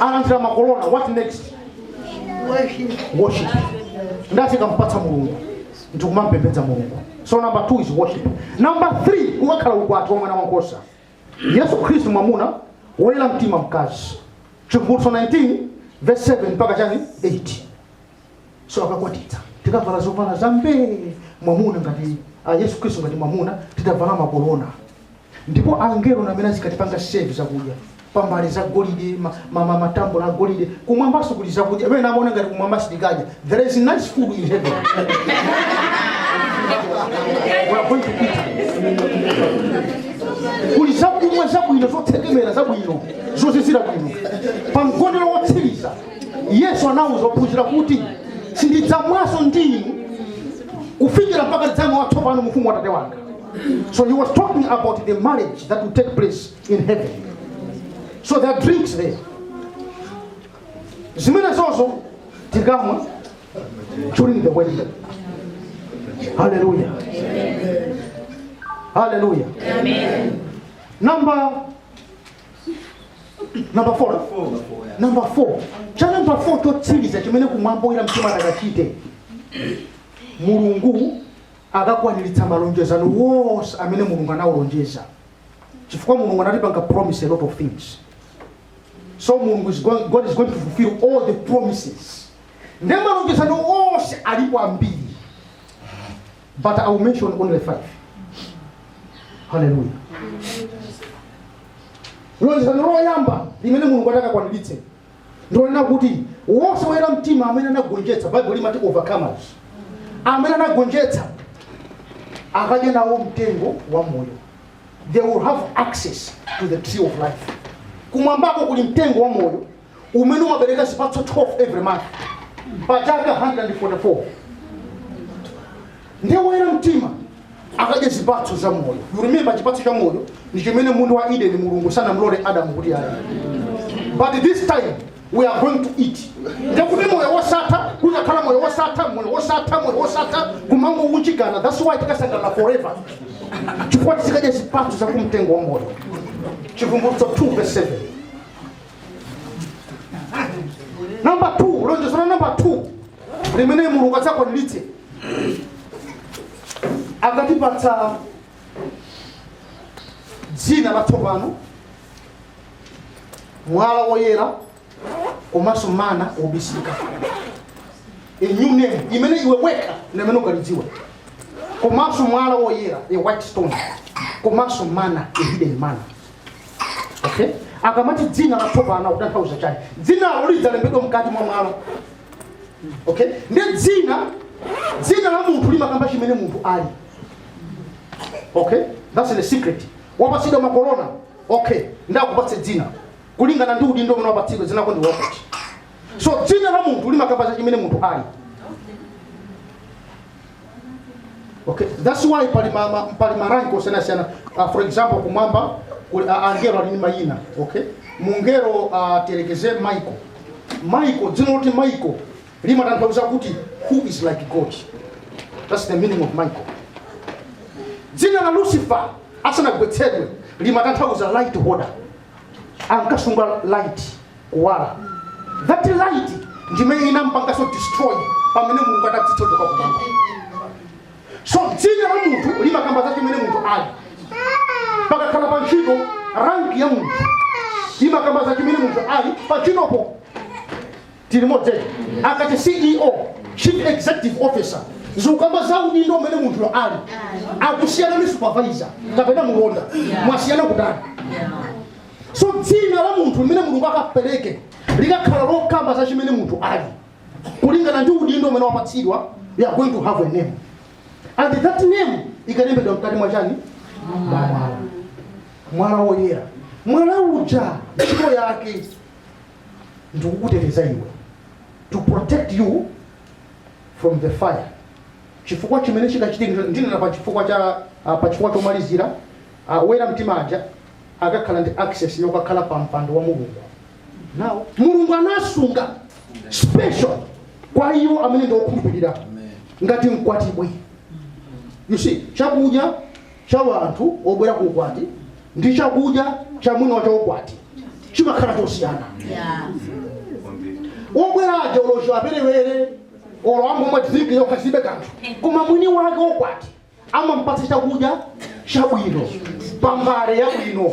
akalandira makolona what next worship ndati tikampatsa mulungu ndikumampembedza mulungu so number two is worship number three kukakhala ukwati wa mwana wankhosa yesu khristu mwamuna woyera mtima mkazi chivumbulutso 19 verse 7 mpaka chani 8 so akakwatitsa tikavala zovala za mbee mwamuna ngati yesu khristu ngati mwamuna titavala makolona ndipo angelo ndi amene azikatipanga serve zakudya pa mbale za golide ma- ma- ma- matambula a golide kumwambaso kuli zakudya amene amaona ngati kumwamba sitikadya there is nice food in heaven We are going to eat. kuli zakumwa zabwino zotsekemera zabwino zozizira bwino pa mgonero wotsiriza yesu anawuza ophunzira kuti sindidzamwanso ndi inu kufikira mpaka tidzamwa watsopano mu ufumu wa atate wanga so he was talking about the marriage that will take place in heaven so there are drinks there zimenezozo tikamwa during the wedding hallelujah hallelujah number number 4 number 4 cha number 4 chotsiriza chimene kumwamba oyera mtima atakachite mulungu akakwaniritsa malonjezano onse amene mulungu anawalonjeza chifukwa mulungu anatipanga promise a lot of things so mulungu is going, god is going to fulfill all the promises ndiye malonjezano onse alipo ambiri but I will mention only five. Hallelujah. lonjezano loyamba limene mulungu atakakwaniritse ndi lonena kuti wonse woyera mtima amene anagonjetsa baibulo limati overcomers amene anagonjetsa akadya nawo mtengo wa moyo they will have access to the tree of life kumwambako kuli mtengo wa moyo umene umabereka zipatso 12 every month pa chaka 144 ndiye woyera mtima akadya zipatso za moyo you remember chipatso cha moyo ndi chimene m'munda wa eden mulungu sanamlole adamu kuti adye but this time we are going to eat ndekuti moyo wosatha kuzakhala moyo wosatha moyo wosatha moyo wosatha kumangounjikana that's why tikasangalala forever chifukwa tizikadya zipatso za kumtengo wa moyo chivumbulutso 2 verse 7 number 2 lonjezo la number 2 limene mulungu adzakwaniritse akatipatsa dzina latsopano mwala woyera komanso mana obisika a new name imene iwe wekha ndimene ukalidziwa komanso mwala woyera a white stone komanso mana a hidden mana okay akamati dzina latsopano akutanthauza chani dzinalo lidzalembedwa mkati mwa mwala okay ndiye dzina dzina la munthu limakamba chimene munthu ali okay that's the secret wapatsidwa makorona okay ndakupatse dzina kulingana ndi udindo umene wapatsidwa dzinako ndi wakuti so dzina la munthu limakamba za chimene munthu ali Okay, that's why pali ma, ma, pali maranki osiyanasiyana uh, for example kumwamba kuli uh, angelo ali ndi mayina okay mungelo uh, tiyerekeze michael michael dzina loti michael limatanthauza kuti who is like god that's the meaning of michael dzina la lucifer asanagwetsedwe limatanthauza light holder ankasunga light kuwala that light ndimene inampanganso destroy pamene mulungu adamuthotha kumwamba so dzina la munthu limakamba za chimene munthu ali pakakhala pa ntchito ranki ya munthu imakamba za chimene munthu ali pa ntchitopo tili limodzi akati ceo chief executive officer ikukamba za udindo umene munthuyo ali akusiyana ndi supervisor kapena mulonda mwasiyana kutani so dzina la munthu limene mulungu akapereke likakhala lokamba za chimene munthu ali kulingana ndi udindo umene wapatsidwa you are going to have a name and that name ikalembedwa mkati mwa chani mwala mwala woyera mwala uja ntchito yake ndikukuteteza iwe to protect you from the fire chifukwa chimene chikachitike ndinena pa chifukwa cha ah, pa chifukwa chomalizira ah, woyera mtima aja akakhala ndi access yokakhala pa mpando wa mulungu now mulungu anasunga special kwa iwo amene ndi okhulupirira ngati mkwatibwi you see chakudya cha wanthu wobwera ku ukwati ndi chakudya cha mwini wake wa ukwati chimakhala chosiyana wobwera aja olo chiwaperewere olo angomwa drinki yokha zilibe kanthu koma mwini wake wa ukwati amampatsa chakudya chabwino pambale yabwino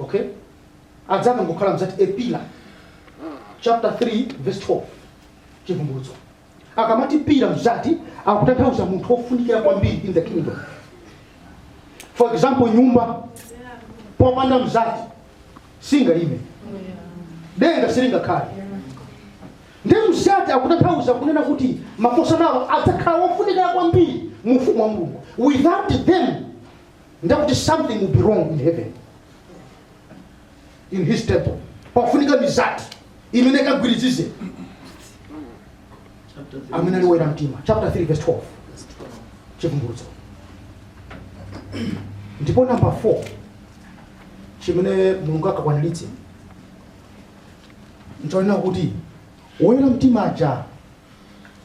okay adzapanga ngokhala mzati a pillar chapter 3 verse 12 chivumbulutso akamati pillar mzati akutanthauza munthu wofunikira kwambiri in the kingdom for example nyumba popanda mzati singaime denga silingakhale ndi mzati akutanthauza kunena kuti makosanawo adzakhala wofunikira kwambiri mu ufumu wa mulungu without them ndekuti something will be wrong in heaven in his temple pafunika mizati imene ikagwirizize amene ali woyera mtima chapter 3 verse 12 chivumbulutso ndipo namba 4 chimene mulungu akakwaniritse nchonena kuti woyera mtima aja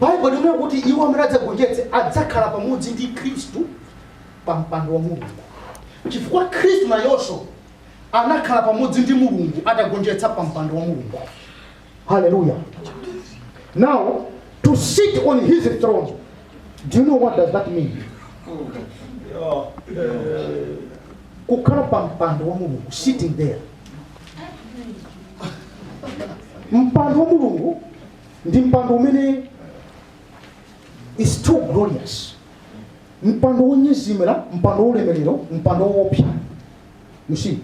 baibulo limanena kuti iwo amene adzagonjetse adzakhala pamodzi ndi khristu pa mpando wa mulungu chifukwa khristu nayonso anakhala pamodzi ndi mulungu atagonjetsa pa mpando wa mulungu haleluya now to sit on his throne do you know what does that mean kukhala pa mpando wa mulungu sitting there mpando wa mulungu ndi mpando umene is too glorious mpando wonyezimira mpando wolemerero mpando woopsa you see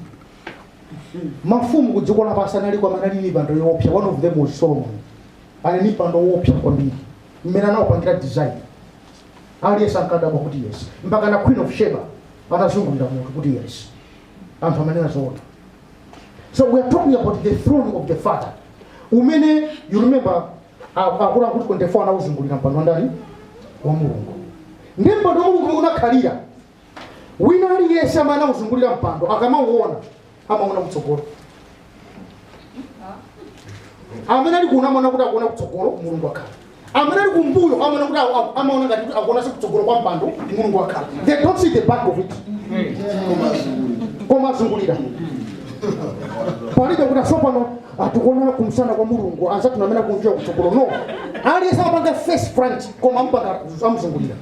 mafumu ku dziko lapansi analiko amene anali ni mipando yoopsa one of them was solomon anali ni mpando woopsa kwambiri mmene anaupangira design aliyense ankadabwa kuti yes mpaka na queen of sheba anazungulira mutu kuti yes anthu amanena zoona so we are talking about the throne of the father umene you remember akuluakulu 24 anawuzungulira mpando wandani wa mulungu ndi mpando wa mulungu mmene unakhalira wina aliyense amene anawuzungulira mpando akamauona amaona kutsogolo amene ali kuno amaona kuti akuona kutsogolo mulungu wakhala amene ali kumbuyo amaona kuti awo- awo- amaona ngati kuti akuonanso kutsogolo kwa mpando mulungu wakhala they don't see the back of it koma azungulira palibe kuti ah tsopano tikuona kumsana kwa mulungu anzathu amene akumvira kutsogolo no aliyense amapanga face front koma amupanga amuzungulira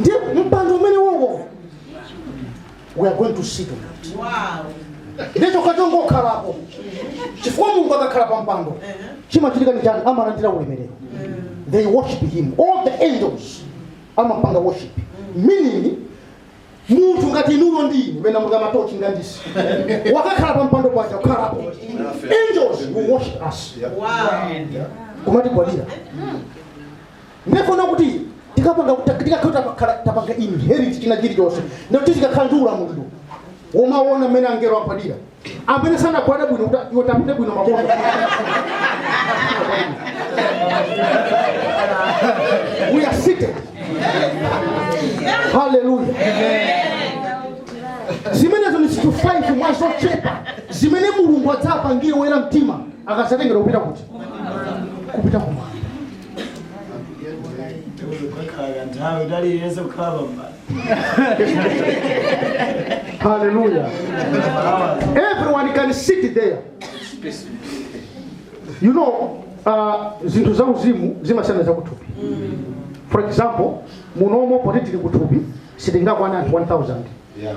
ndi mpando umene wowo we are going to sit on it sitikukangokhalako chifukwa mulungu akakhala pa mpando chimachitika ndi chani amalandira ulemerero they worship him all the angels amapanga worship meaning munthu ngati inuyo ndi ine mena munga matochi ngandisi wakakhala pa mpando paja kukhalapo angels will worship us kumatigwadira ndefuna kuti tikapanga tikakhala tapakhala- tapanga inherit china chilichonse ndekuti tikakhala ndi ulamuliro womaona mmene angelo agwadira amene sanagwada bwino kuti iwo tapite bwino maondo we are seated haleluya zimenezo ni zinthu 5 mwa zochepa zimene mulungu adzapangire oyera mtima akazatengedwa kupita kuti kupita kumwamba Kukhala kanthawi utali yense kukhala pambali. Hallelujah. Everyone can sit there. You know, uh, zinthu za uzimu zimasiyana za kuthupi. For example, munomo poti tili kuthupi sitingakwana anthu 1000. Yeah.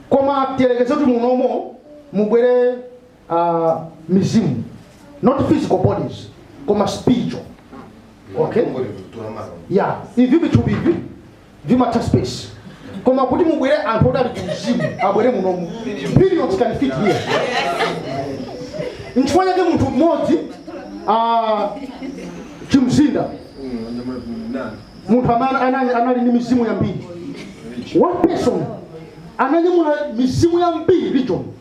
Koma tiyerekeze kuti munomo mubwere uh, mizimu not physical bodies koma spiritual Okay. yeah ivi vithupi ivi vimatha space koma kuti mubwere anthu oti ali ku mzimu abwere munomu billions can fit here nchifukwa chake munthu mmodzi ah, chimzinda munthu amene anali anali ndi mizimu yambiri one person ananyamula mizimu yambiri legion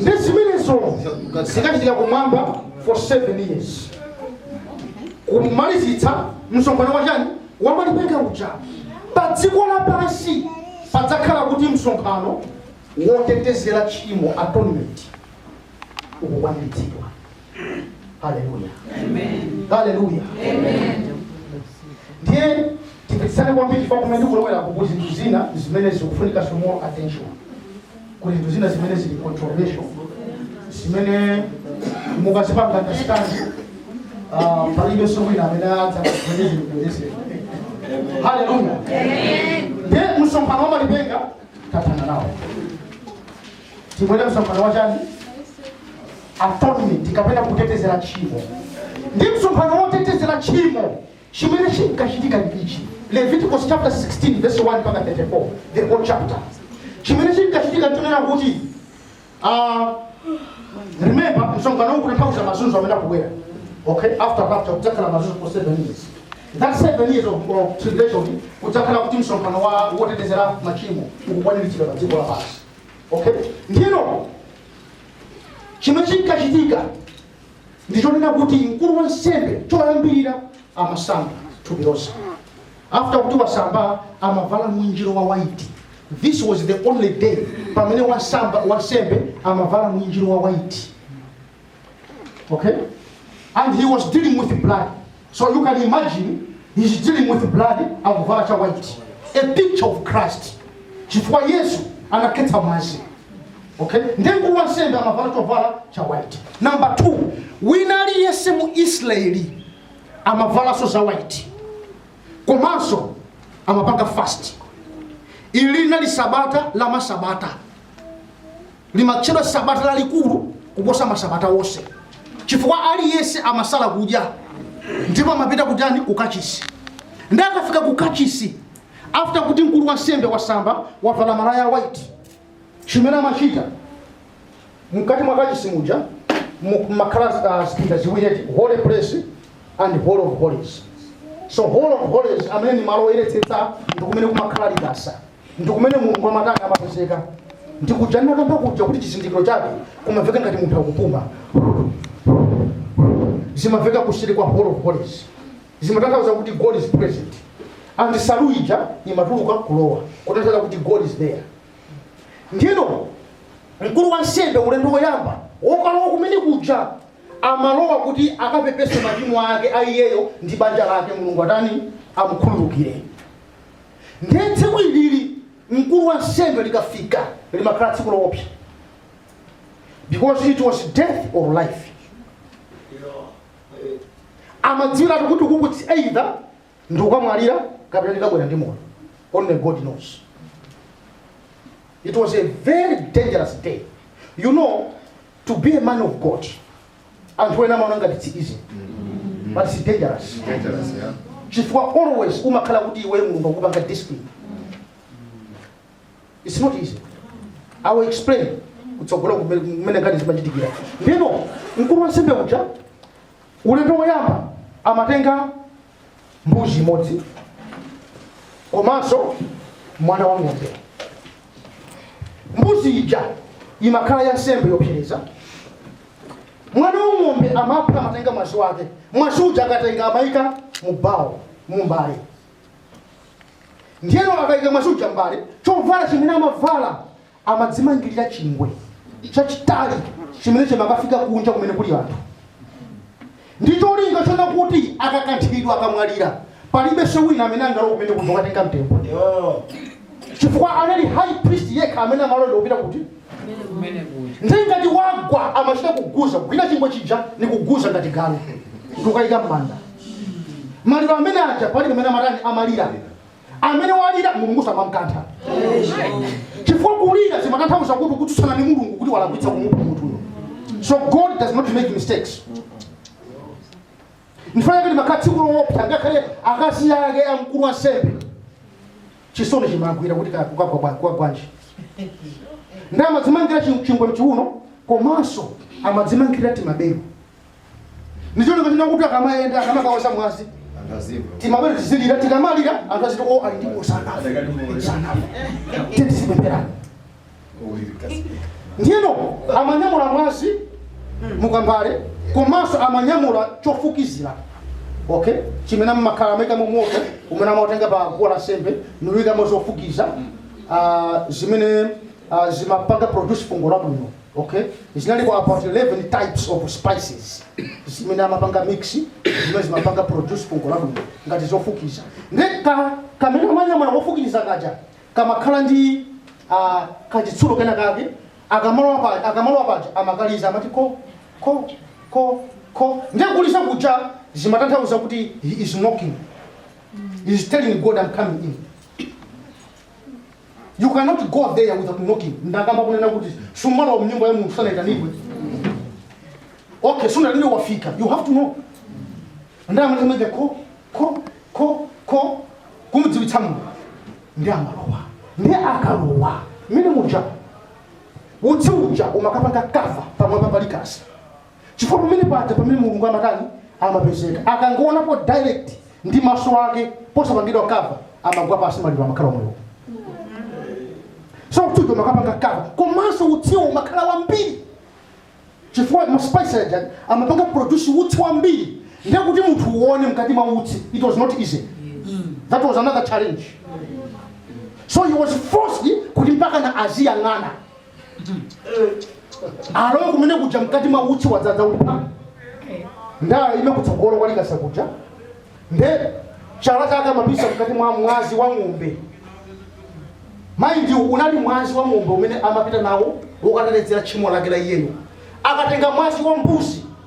nde zimenezo zikachitika kumwamba for 7 years kumalizitsa msonkhano wachani wamalipenga uja pa dziko lapansi padzakhala kuti msonkhano wotetezera tchimo atonement ukukwaniritsidwa haleluya haleluya ndiye timvetsane kwambiri chifukwa kumene ndikulowera kuku kuli zinthu zina zimene zikufunika some more attention kuli zinthu zina zimene zili controversial zimene mukazipanga understand ah, palibe so wina amene adza zimene zilikuendesera haleluya ndiye msonkhano wa malipenga tathana nawo tibwere msonkhano wa chani atonement kapena kutetezera tchimo ndi msonkhano wotetezera tchimo chimene chinkachitika ndi ichi leviticus chapter 16 verse 1 mpaka 34 the whole chapter chimene chinkachitika nchonena kuti ah, remember msonkhano uwu ukutanthauza mazunzo amene akubwera okay after rapture kudzakhala mazunzo for seven years that seven years of, of tribulation kudzakhala kuti msonkhano wa wotetezera machimo ukukwaniritsidwa pa dziko lapansi okay ndiyeno chimene chinkachitika ndichonena kuti mkulu wansembe choyambirira amasamba thupi lonse after kuti wasamba amavala mwinjiro wa white this was the only day pamene wansembe amavala mwinjiro wa white Okay? And he was dealing with blood. So you can imagine he's dealing with blood akuvala cha white. A picture of Christ. Chifukwa Yesu anakhetsa mwazi. Okay? Ndiye mkulu wa nsembe amavala chovala cha white. Number two, wina aliyense mu Israeli amavalanso za white. Komanso amapanga fast. Ili linali sabata la masabata. Limatchedwa Sabata lalikulu kuposa masabata onse chifukwa aliyense amasala kudya ndipo amapita kutani kukachisi nde akafika kukachisi after kuti mkulu wa nsembe wasamba wavala malaya white chimene amachita mkati mwa kachisi muja mumakhala uh, zipinda ziwiri eti holy place and Holy of Holies. So Holy of Holies amene ni malo oyeretsetsa ndi kumene kumakhala likasa ndi kumene Mulungu amatani amapezeka ndi kuja ndinakamba kuja kuti chizindikiro chake kumamveka ngati munthu akupuma zimamveka kuseri kwa Holy of Holies zimatanthauza kuti God is present and nsalu ija imatuluka kulowa kutanthauza kuti God is there ndino mkulu wa nsembe ulendo woyamba wokalowa kumene kuja amalowa kuti akapepese machimo ake a iyeyo ndi banja lake, Mulungu atani? Amukhululukire. Ndiye tsiku ilili mkulu wa nsembe likafika limakhala tsiku loopsa because it was death or life. Amadziwiratu kuti uku it's either ndikukamwalira kapena ndikabwera ndi moyo. Only God knows. It was a very dangerous day. You know, to be a man of god anthu ena amaona ngati it's easy but it's dangerous Dangerous, yeah. chifukwa always umakhala kuti iwe mulungu akupanga discipline it's not easy i will explain kutsogolo kumene ngati zimachitikira ndino mkulu wansembe uja ulendo woyamba amatenga mbuzi imodzi komanso mwana wa ng'ombe mbuzi ija imakhala ya nsembe yopsereza mwana wa ng'ombe amapha amatenga mwazi wake mwazi uja akatenga amayika mu bawo mu mbale ndiyeno akayika mwazi uja m'mbale chovala chimene amavala amadzimangirira chingwe chachitali chimene chimakafika kunja kumene kuli anthu ndi cholinga chona kuti akakanthidwa akamwalira palibenso wina amene angalowe kumene kuja kukatenga mtembo chifukwa anali high priest yekha amene amalowa kupita kuti ndi ngati wagwa amachita kuguza kugwira chingwe chija ni kuguza ngati galu ndikukaika m'manda maliro amene aja palibe amene amatani amalira amene walira mulungu amamkantha chifukwa kulira zimatanthauza kuti ukutsutsana ndi mulungu kuti walakwitsa kumupha munthuyo so god does not make mistakes n'chifukwa chake limakhala tsiku lowopsa ngakhale akazi ake a mkulu wa nsembe chisoni chimagwira kuti ka- kukagwa bwa- kwa bwanji nde amadzimangira chi- chingwe mchiuno komanso amadzimangira timabelo ndi cholinga chona kuti akamayenda akamakawaza mwazi timabelo tizilira tikamalira anthu aziti o ali ndipo sanafa sanafa tizipepera ndiyeno amanyamula mwazi mukambale komanso amanyamula chofukizira okay chimene mmakhala amaika mu moto umene amatenga pa guwa la nsembe nkuikamo zofukiza ah, zimene ah, zimapanga produce fungo labwino okay zinaliko about 11 types of spices zimene amapanga mix zimene zimapanga produce fungo labwino ngati zofukiza nde ka kamene amanyamula kofukiza kaja kamakhala ndi uh, kachitsulo kena kake akamalowa paja akamalowa paja amakaliza amati ko ko ko ko ndiye kuliza kuja zimatanthauza kuti he is knocking he is telling god i'm coming in You cannot go there without knocking. Ndakamba kunena kuti sumalowa mnyumba ya Mulungu usanaitanidwe. Okay, so ndalile wafika. You have to knock. Nde amakamenya ko ko ko ko kumudziwitsa Mulungu. Nde amalowa. Nde akalowa. Mmene muja. Utsi uja umakapanga kava pamwamba pa likasa. chifukwa pamene paja pamene mulungu amatani amapezeka akangowonapo direct ndi maso ake posapangidwa kava amagwa pansi maliro amakhala omwewo so utsiwo umakapanga kava komanso utsiwo umakhala wambiri chifukwa maspice aja amapanga produce utsi wambiri ndiye kuti munthu uone mkati mwa utsi it was not easy that was another challenge so he was forced kuti mpaka na aziyang'ana alowe kumene kuja mkati mwa utsi wadzadza uli pa nde akaime kutsogolo kwa likasa kuja nde chala chake amapisa mkati mwa mwazi wa ng'ombe mind you unali mwazi wa ng'ombe umene amapita nawo wokatetezera tchimo lake la iyeyo akatenga mwazi wa mbuzi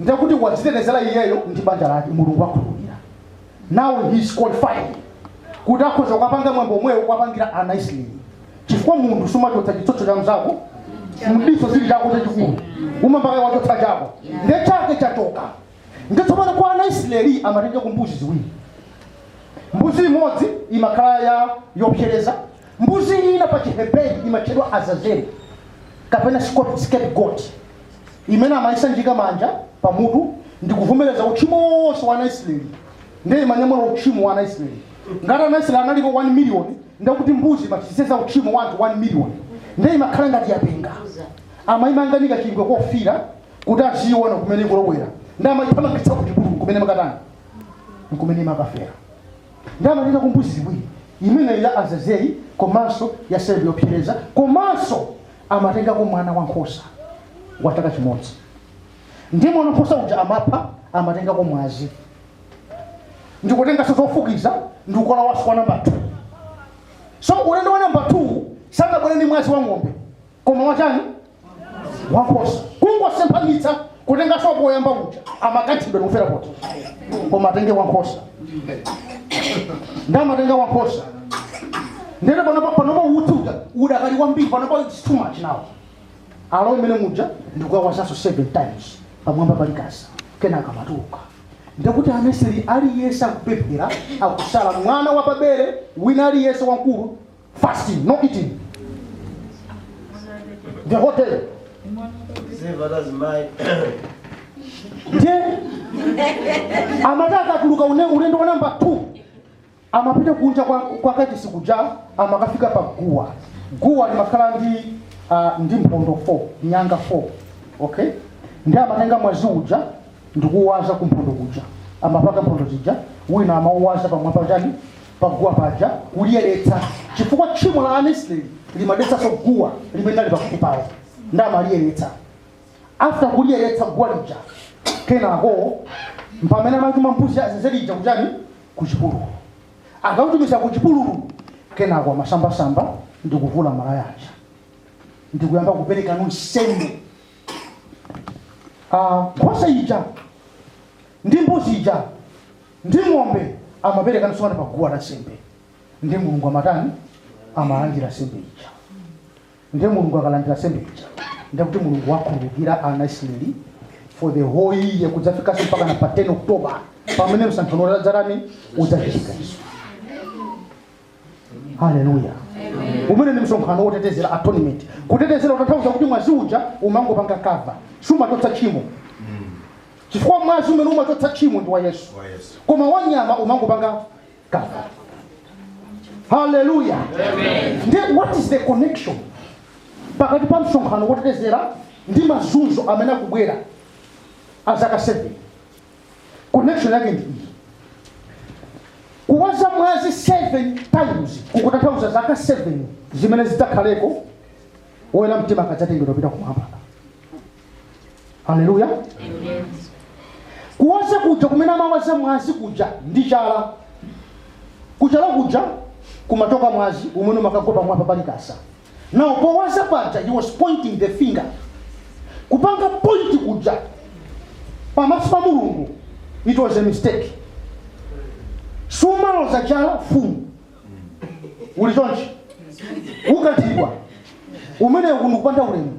ndiye kuti wadzitetezera iyeyo ndi banja lake mulungu wakhululukira now he is qualified kuti akhoza kukapanga mwambo omwewo kuwapangira ana isiraeli chifukwa munthu sumachotsa chitsotso cha mzako mdiso chili chako chachikulu umayamba kaye wachotsa chako nde chake chachoka nde tsopano kwa ana isiraeli amatenga ku mbuzi ziwiri mbuzi imodzi imakhala ya yopsereza mbuzi ina pa chiheberi imatchedwa azazeli kapena scapegoat imene amayisanjika manja pamutu ndi kuvomereza uchimo wonse wa anaisraeli ndiye imanyamula uchimo wa anaisraeli ngati anaisraeli analipo 1 million ndikuti mbuzi imasenza uchimo wa anthu 1 million ndiye imakhala ngati yapenga amayimangirira chingwe kofira kuti aziona kumene ikulowera ndiye amayithamangitsa kuti kuti kumene imakatani nkumene imakafera ndiye amatenga kumbuzi ziwiri imene ya azazeli komanso ya nsembe yopsereza komanso amatengako mwana wa nkhosa wa chaka chimodzi, ndiye mwana wa nkhosa uja amapha, amatengako mwazi, ndi kutenganso zofukiza ndi kukalowanso kwa namba 2 so ulendo wa namba 2 sangabwere ndi mwazi wa ng'ombe koma wachani wa nkhosa kungosemphanitsa kutenga zako zoyamba uja amakanthidwa ndikufera pomwepo koma atenge wankhosa nde amatenga wankhosa ndene panopa panopa utsi uja udakali kwambiri panopa it's too much now alowe mmene muja ndikukawazanso seven times pamwamba pa likasa kenaka amatuluka ndikuti mwisiraeli aliyense akupemphera akusala mwana wapabere wina aliyense wamkulu Fasting, no eating. The whole day. Save others mind. Ndiye amati akatuluka ulendo wa namba 2 amapita kunja kwa, kwa kachisi kuja amakafika pa guwa guwa limakhala ndi uh, ndi mphondo 4 nyanga 4 okay ndiye amatenga mwazi uja ndikuwaza ku mphondo kuja amapaka mphondo zija wina amauwaza pamwamba pa chani paguwa paja kuliyeretsa chifukwa tchimo la anaisraeli limadetsanso guwa limene linali pafupi pawo nde amaliyeretsa after kuliyeretsa guwa lija kenako mpamene amatuma mbuzi azazeli ija kuchani kuchipululu akaitumiza kuchipululu kenako amasamba ndi kuvula malaya aja ndikuyamba kupereka nsembe Ah, nkhosa ija ndi mbuzi ija ndi ng'ombe amaperekanso kaye pa guwa la nsembe nde mulungu amatani amalandira nsembe ija nde mulungu akalandira nsembe ija ndikuti mulungu wakhululukira ana isiraeli for the whole year kudzafikanso mpaka na pa 10 october pamene msonkhano udzatani udzachitikenso haleluya umene ndi msonkhano wotetezera atonement kutetezera utanthauza kuti mwazi uja umangopanga cover sumachotsa tchimo chifukwa mwazi umene umachotsa tchimo ndi wa yesu koma wanyama umangopanga cover haleluya then what is the connection pakati pa msonkhano wotetezera ndi mazunzo amene akubwera azaka 7 connection yake ndi iyi kuwaza mwazi 7 times kukutanthauza zaka 7 zimene zidzakhaleko woyera mtima akadzatengedwa pita kumwamba haleluya kuwaza kuja kumene amawaza mwazi kuja ndi chala kuchala kuja kumachoka mwazi umene umakagwa pamwamba pa likasa now powaza paja he was pointing the finger kupanga point kuja pamaso pa mulungu it was a mistake sumaloza chala mfumu uli chonchi ukathidwa kumeneko ndi kupanda ulemu